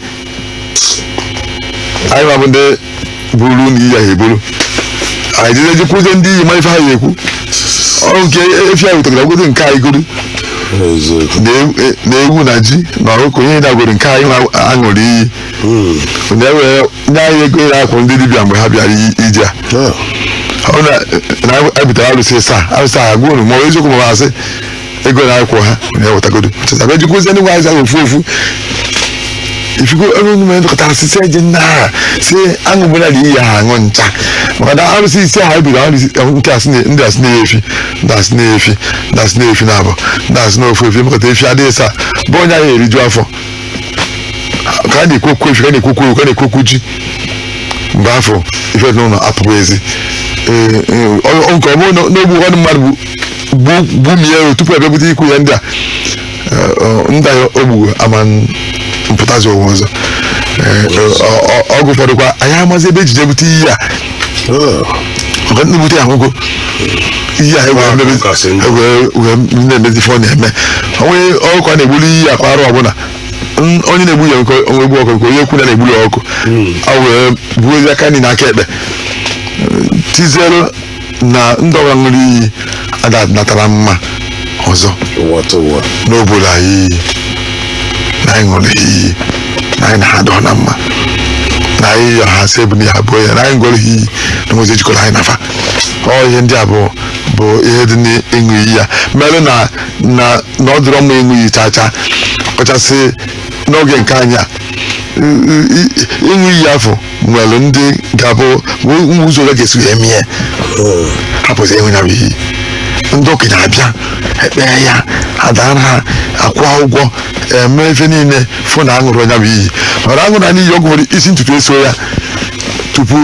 anyị nwa bụ ndị buru iyi ahụ eburu anyị jide jekwuzie ndị iyi ma ife ha ya-ekwu ọrụ nke efi ahụ wetaragodo nke anyị goro eziokwu na ewu- e- na ewu na ji na ọkụkọ e wetagodo nke anyị nwa- a ṅụrụ iyi Mm. na e were nye anyị ego ịra akwụ ndị dibịa mgbe ha bịara i- ije a Ah. ọ na na e butere arụsị saa arụsị ahụ agwa unu ma ọ bụ eziokwu ma ọ bụ asị ego na-akwụkwa ha na e wetagodo a bịa jekwuzie ndị nwe iyi zara ofu ofu ị fụgo ebe unu mere dọkọtara sisi eji nna ha si aṅụ gbara dị iyi ha aṅụ ncha maka na arụsị isi ha ebiri arụsị nke a sị na- ndị a sị na e nye efi ndị a sị na e nye efi ndị a sị na e nye efi naabọ ndị a sị na ofu efi mekọta efi adịghị sa bụ onye ahụ eriju afọ ka a na-ekwu okwu efi ka a na-ekwu okwu ewu ka a na-ekwu okwu ji mgbe afụ ife dị n'ụlọ apụghị ezi Ee, ee, ọ- ọ- nke ọ bụrụ na na o gbu ụfọdụ mmadụ bụ gbumie tupu ebebudo ikwu ya ndị a ndị a o gburu ama apụtazi ụwa ọzọ oge ụfọdụkwa anyị amazi ebe ejije bute iyi a maka ndị bute ya nwụgo iyi a wee na-emezi ife ọ na-eme o nwee ọkụkọ a na-egbuli iyi a kwa arọ ọbụla onye na-egbu ya nke onwe egbu ọkụkọ nke onye ekwu na na-egbuli ọkụkọ a wee buo ezi aka nri na aka ekpe tiziere na ndị ọbụla ṅụrụ iyi ada natara mma ọzọ ụwa tụ ụwa n'obodo anyị iyi na anyị ṅụrụ iyi na anyị na ha adọ na mma na anyị yọ ha sị ebuli ha bụ ya na anyị ṅụrụ ha iyi na enwezi ihe jikọrọ anyị na fa ọ ihe ndị a bụ bụ ihe dị n'ịṅụ iyi ya mere na na na ọ dịrọ mma ịṅụ iyi chaa chaa ọkachasị n'oge nke anyị a I- i- i- ịṅụ iyi afụ nwere ndị ga-abụ nwe ụzọ ole ga-esi eme ya hapụzi ịṅụ ya bụ iyi ndị okenye abịa ekpee ya adara ha akwụọ ụgwọ eme ife niile fụ na aṅụrụ ya bụ iyi mara aṅụ na n'iyi ọgwụ nwere isi ntutu eso ya tupu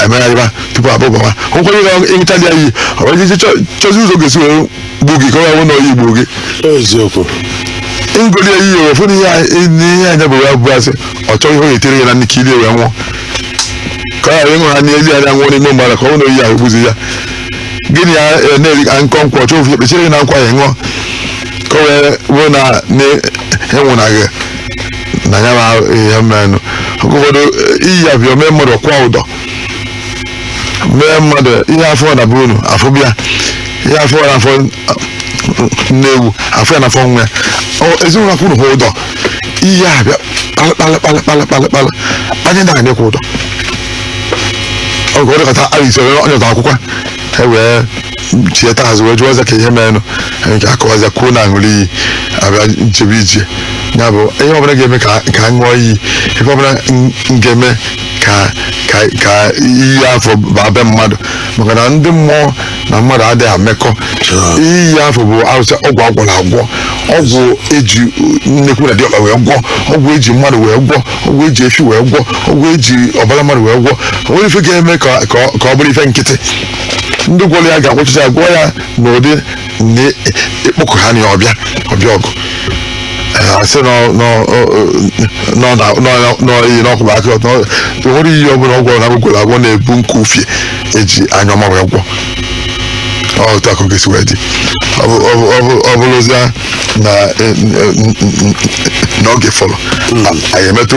emegharịba tupu abụbawa ụkwara ịṅụcha ya iyi ọ bụrụ chọzi ụzọ ọ ga-esi were gbu gị ka ọ ga-awụ na ọ iyi gburu gị eziokwu ngoli ya iyi ọ fụ na ihe anyị- n'ihe anya bụ ya bụ asị ọ chọghị ihe ọ ga-etere ya na nni ka o lie wee nwụọ ka ọ ghara ịṅụ ha n'ezi ya nwụọ n'ime mmadụ ka ọ na ọ iyi ahụ gbuzi ya gịnị ya eh, na-eri ka nkọ nkwụ ọchọ ofu ekpechiri gị na nkwụ ya ṅụọ ka ọ wee wee na na-enwụna gị na ya ma ihe menụ oge ụfọdụ eh, iyi ya bịa mee mmadụ ọ kwụọ ụdọ mee mmadụ ihe afụ na-abụ ọnụ afụ bịa ihe a fụ n'afọ nne ewu a fụ ya n'afọ nwa ya Ọ- ezinụlọ akwụrụ ha ụdọ iyi a bịa kpalị kpalị kpalị kpalị kpalị anyị na anyekwa ụdọ oge ọ dịkọta arịsị onye ọta akwụkwọ e wee chieta azụ wee jụọ ọza ka ihe merenụ anyị ka akọwaza kwuo na aṅụrụ iyi abịa nchebe ije ya bụ ihe ọbụla ga-eme ka ka m ṅụọ iyi ihe ọbụla m m ga-eme ka ka ka iyi afụ baa be mmadụ maka na ndị mmụọ na mmadụ adịghị amekọ iyi afụ bụ arụsị ọgwụ agwọrọ agwọ ọgwụ eji nnekwu na diọkpa wee gwọ ọgwụ eji mmadụ wee gwọ ọgwụ eji efi wee gwọ ọgwụ eji ọbara mmadụ wee gwọ o nwerọ ife ga-eme ka ka ọ- ka ọ bụrụ ife nkịtị ndị gwọrọ ya ga-agwọchịcha gwọ ya n'ụdị na ịkpọkuo ha na ọ bịa ọ bịa ọgụ Eh, asị nọ nọ nọ na nọ nọ iyi n'ọkụba aka ọtọ nwere iyi ọbụla ọgwụ na a gwọrọ agwọ na-ebu nke ufie eji anya ọma wee gwọ ọ otu a ka ọ ga-esi wee dị Ọ bụ- ọ bụ- ọ bụ- ọ bụrụzia na eh, eh, n'oge fọrọ anyị emetụ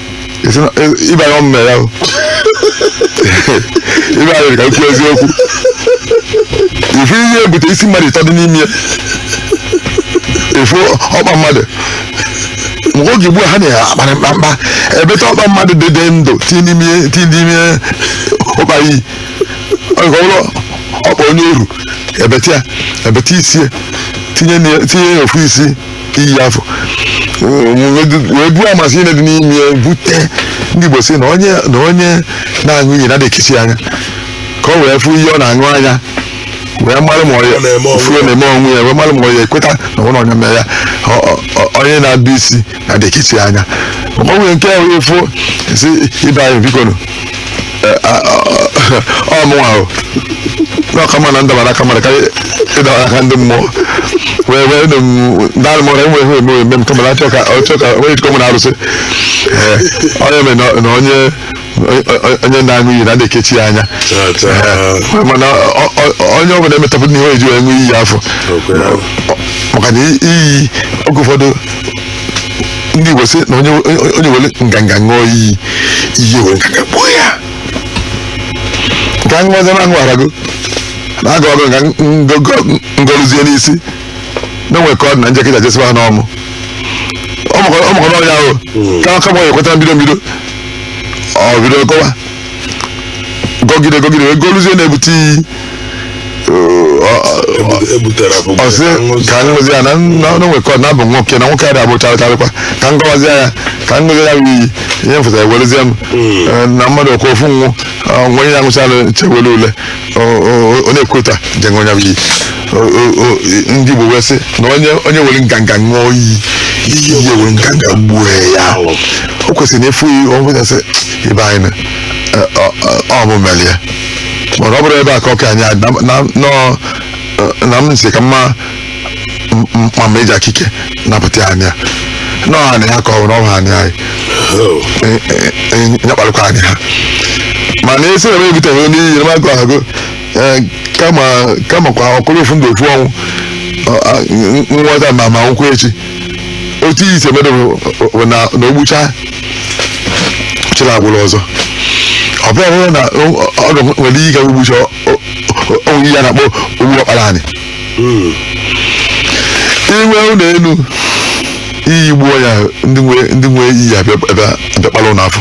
Esi na- e- ibe anyị ọ mụ me ya o. ibe anyị ka m kwuo eziokwu ịfụ iyi ebute isi mmadụ ịtọ dị n'ime ya ịfụ ọkpa mmadụ mgbe oge gboo a ha na-akparị mkpamkpa ebeta ọkpa mmadụ dị dị ndụ tinye n'ime ya- tinye n'ime ya ụkpa iyi ọ nke ọbụla ọkpa onye oru ebeta ya ebeta isi ya tinye na- tinye ya ofu isi iyi afụ wee buo amasị ihe dị n'ime ya bute ndị Igbo sị na onye na onye na-aṅụ iyi na adị ekesi anya ka ọ wee fụ ihe ọ na-aṅụ anya wee mara ma ọya furu na-eme onwe ya wee mara ma ọ ya ekweta na ọ na onye mere ya onye na-adụ isi na adị ekesi anya ọ nwere nke ahụ efu sị ibe anyị biko nụ ọ mụnwa o na ọ ka mma na ndabara aka mmadụ karịa ịdabara aka ndị mmụọ wee wee nụ m daalụ mara enwe ihe eme eme m kama na achọ ka ọchọ ka onye jikọ mụ na arụsị Ee, ọ ya mere na- na onye onye na-aṅụ iyi na adị ekechi ya anya Ee, mana ọ- ọ- onye ọbụla emetapụ n'ihe eji wee ṅụ iyi afụ maka na iyi oge ụfọdụ ndị Igbo sị na onye onye- onye were nganga ṅụọ iyi iyi were nganga gbuo ya nke anyị nwazị na ahụ arago na aga ọgụ nga ngọrụzie n'isi na o nwe ka ọ dị na njekịta je sịba ha na ọ mụ ọ mụ kọrọ ọ mụ kọrọ ọnya ahụ kama kama ọ ekweta mbido mbido ọ bido gọwa gọgide gọgide wee gọluzie na-ebute iyi ebutere abụ ọ sị ka m ṅụzie ya na na- na o nwe ka ọ na-abụ nwoke na nwoke adị abụ charịcharịkwa ka m gọwazie ya ka m ṅụzie ya bụ iyi ihe m fụtara ewerezie m Eh, na mmadụ ọkwa ofu ọnwụ nwe ya nwụchara chewere ule o- o- ọ na-ekweta je ṅụọ ya bụ iyi O- o- o- ndị Igbo wee sị na onye onye were nganga ṅụọ iyi iyi were nganga gbuo ya o kwesịrị na ịfụ iyi ọ bụla sị ibe anyị na ọ- ọ- ọ- ọ mụ mere ya mana ọ bụrụ ebe a ka ọka anyị a- na- na- nọ- na m sị kama m- m- ma ma eji aka ike napụta ya anya na ọ anị ha ka ọ bụ na ọ bụ anị anyị E- e- e- nyakparịkwa anyị ha mana esi na m ebuteghị onye iyi na maka ahụ kama kama kwa ọ bụrụ ofu ndụ ofu ọnwụ ọ- a- n- nghọta ma ma nkwụ echi otu iyi si eme bụ bụ na na o gbucha chịrị agbụrụ ọzọ ọ bụrụ na ọ ga nwere ike o gbucha onwe ya na-akpọ o gbuo ọkpara anyị inwe ụlọ elu iyi gbuo ya ndị nwe ndị nwe iyi abịa abịa abịa kpala ụlọ afụ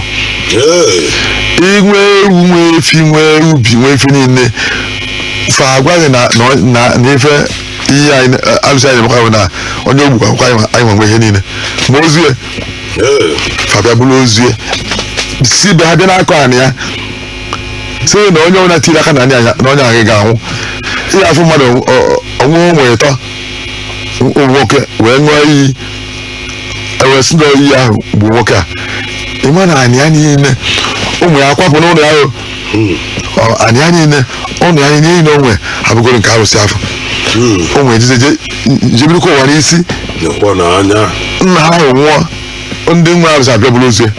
inwe ewu nwe efi nwe ubi nwe efi niile fa agwa gị na na ọ- na na ife ihe anyị na- alụsị anyị na-emekwa bụ na onye o gbukwa anyị ma- anyị ma nwe ihe niile ma ozu ya fa bịa buru ozu ya si be ha bịa n'akọ anị ya sị na onye ọbụla tiri aka na onye ahụ- na onye ahụ ga-anwụ ihe afụ mmadụ ọnwụ onwe ịtọ ụmụ nwoke wee ṅụọ iyi e wee sị na iyi ahụ egbuo nwoke a ịma na anị ya niile ụmụ ya akwapụ n'ụlọ ya o. Ọ, anị ya niile ụlọ ya niile niile o nwe abụgoro nke arụsị afụ ụmụ ejize je- jebirikwa ụwa n'isi nekwa na anya nna ha ahụ nwụọ ndị nwe arụsị abịa buru ozu ya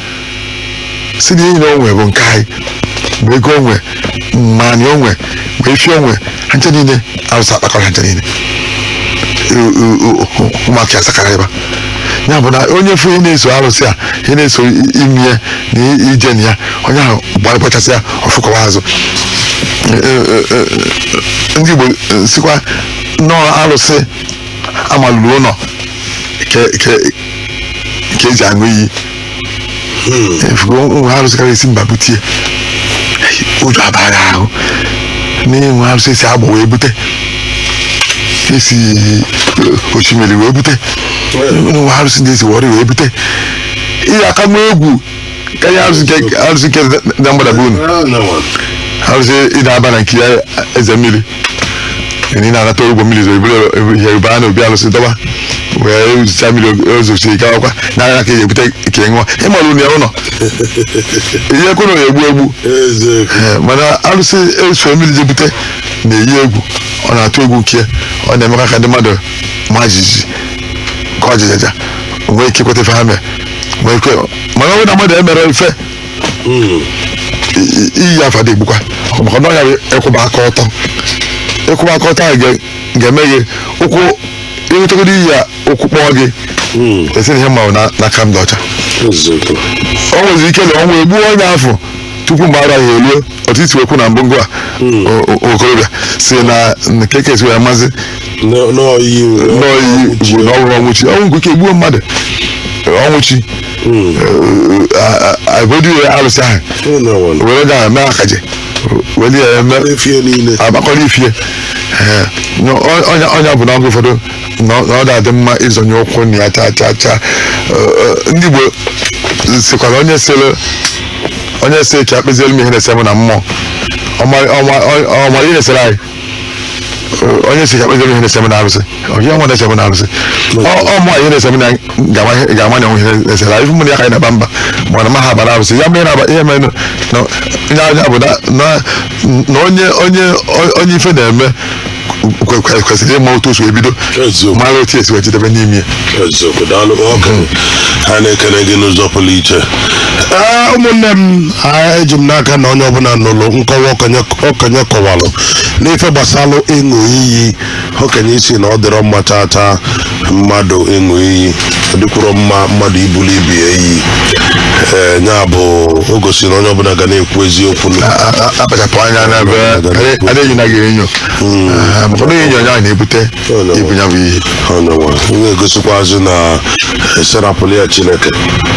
sị na ihe niile o nwere bụ nke anyị ma ego o nwere ma anị o nwere ma efi o nwere ha ncha niile arụsị akpakọrọ ha ncha niile U- u- u- u- ụmụaka ya sakara ebe a. ya bụ na onye fụ ihe na-eso arụsị a ihe na-eso i- imi ya na i- ije na ya onye ahụ gba- gbachasị ya ọfụkọwa azụ E- e- e- e- ndị Igbo e, sịkwa na ọ arụsị amalụrụ ụlọ ka ka- ka eji aṅụ iyi ị fụgo nwa arụsị karịa esi mba butie ụjọ abaa gị ahụ na e nwe arụsị esi agbọ wee bute esi eh, osimiri wee bute nwe arụsị ndị esi wọrị wee bute ihe aka m egwu karịa arụsị nke- arụsị nke na mgbada bụ unu arụsị ịda aba na nke ya eze mmiri ndị na-anata ụgwọ mmiri zoro ebule yoruba a na obi alụsị dọba wee zụta mmiri ozosiri gawakwa n'anya ka eji ebute ka ị ṅụọ ịmara ụnụ ya ụlọ ihe kwena ya egbu egbu Ee, mana alụsị eso mmiri ji ebute na-eyi egwu ọ na-atụ egwu nke ya. ọ na-emekwa ka ndị mmadụ ma jijiji ka ọ jịjaja nwee ike ikweta ife ha mere nwee ike mana ọ bụrụ na mmadụ emere ife I- i- iyi afụ adị egbukwa maka na ọ ya bụ ịkwụba aka ọtọ ịkwụba aka ọtọ ahụ ga- ga-eme gị ụkwụ ịrụtagoro iyi ya ụkwụ kpọọ gị ị sị na ihe m ma bụ na- na aka m dị ọcha eziokwu o nwezi ike na ọnwụ egbuo onye afụ tupu mgbe arọ ya eruo otu e si wee kwuo na mbụngụ a o- o- okorobịa sị na kee ka esi wee mazi N'ọ- n'ọyị n'oyi ji na ọ nwụrụ ọnwụ chi ọnwụ nke ike gbuo mmadụ ọnwụ chi agodi wee alụsị ahụ ụlọwọlụ were ya mee akaje were ya eme efie niile agbakọrọ ifie Ee, onye onye ọbụla oge ụfọdụ na ọ- na ọ da adị mma ịzọnye ụkwụ na ya chaa chaa chaa Eh, eh, ndị Igbo sikwara onye sịrị onye sị ka e kpeziere m ihe na-ese m na mmụọ ọ ma- ọ ma- ọ- ọ mara ihe na-esere anyị Eh, onye sị ka e kpeziere m ihe na-ese m na arụsị ọ ihe nwa na-ese m na arụsị ọ ọ mụ ihe na-ese m na ga-ama ihe- ga-ama na e nwee ihe na-esere anyị mụ na ya ka anyị na-aba mba mana ma ha aba na arụsị ya mere na ihe mere na na- ya ya bụ na na- na onye onye onye ife na-eme kwe- kwe- kwesịrị ịma otu o si wee bido Eziokwu. mara otu e si wee jedebe n'ime ya eziokwu daalụ ọkụ ha na-ekele gị n'ụzọ pụrụ iche Ee, ụmụnne m a, eji m n'aka na onye ọbụla nụrụ nkọwa okenye okenye kọwalụ n'ife gbasalụ ịṅụ iyi okenye sị na ọ dịrọ mma chaa chaa mmadụ ịṅụ iyi ọ dịkwuro mma mmadụ ibuli ibe ya iyi ee ya bụ o gosiri na onye ọbụla ga na-ekwu eziokwu na A- a- a- akpachapụ anya n'ebe a na-enyo na gị enyo Ah, maka na enyo ya na-ebute ibu ya bụ ihe ọ ya nwa na-egosikwazi na a sị rapụlụ ya Chineke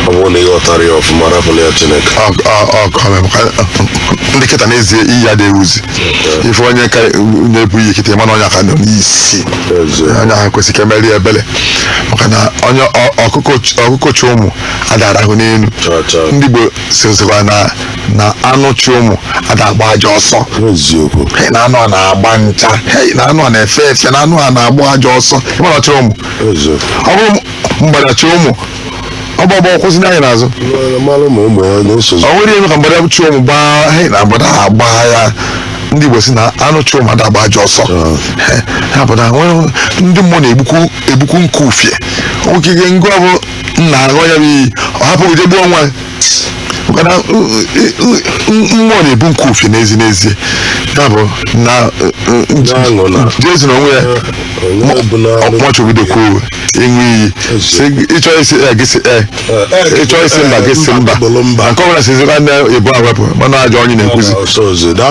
ọ bụrụ na ị ghọtara ya ọfụma rapụlụ ya Chineke Ọ- ọ- ọ- ọ mere maka ndị kịta n'ezie iyi ada ewuzi ị fụ onye ka na-ebu iyi kịta ị ma na onye a ka nọ n'isi onye ahụ kwesịrị ka e meere ya ebere maka na onye ọ- ọkụkọ ch- ọkụkọ chị ụmụ ada arahụ n'elu ndị Igbo sịzikwa na na anụ chị ụmụ ada agba aja ọsọ eziokwu Hey, na anụ a na-agba ncha hey, na anụ a na-efe efe na anụ a na-agba aja ọsọ ị ma na ọ chịrọ ụmụ eziokwu ọ bụrụ mgbada chị ụmụ ọ gbaa ọ gbaa kwụsị nee anya n'azụ ọ nwere ihe ka mgbada chị ụmụ gbaa anyị na mgbada ha gbaa ya ndị Igbo si na anụ chị ụmụ ada agba aja ọsọ ya bụ na ndị mmụọ na-egbukwu egbukwu nke ufie nwoke ihe ngụ ọ bụ nna aṅụọ ya bụ iyi ọ hapụ gị je gbuo nwa maka na u- u- u- u- mmụọ na-egbu nke ufie n'ezi n'ezie ya bụ na Na-anọ na- Jesu na onwe ya onye ọbụla machibidokwuo ịṅụ iyi Si gị- ị chọọ ịsị ee gị sị ee ị chọọ ịsị mba gị sị mba Bụrụ mba. nke ọbụla sizi na ndị ebu awepụ mana ajọ onye na-ekwuzi ọsọ ọzọ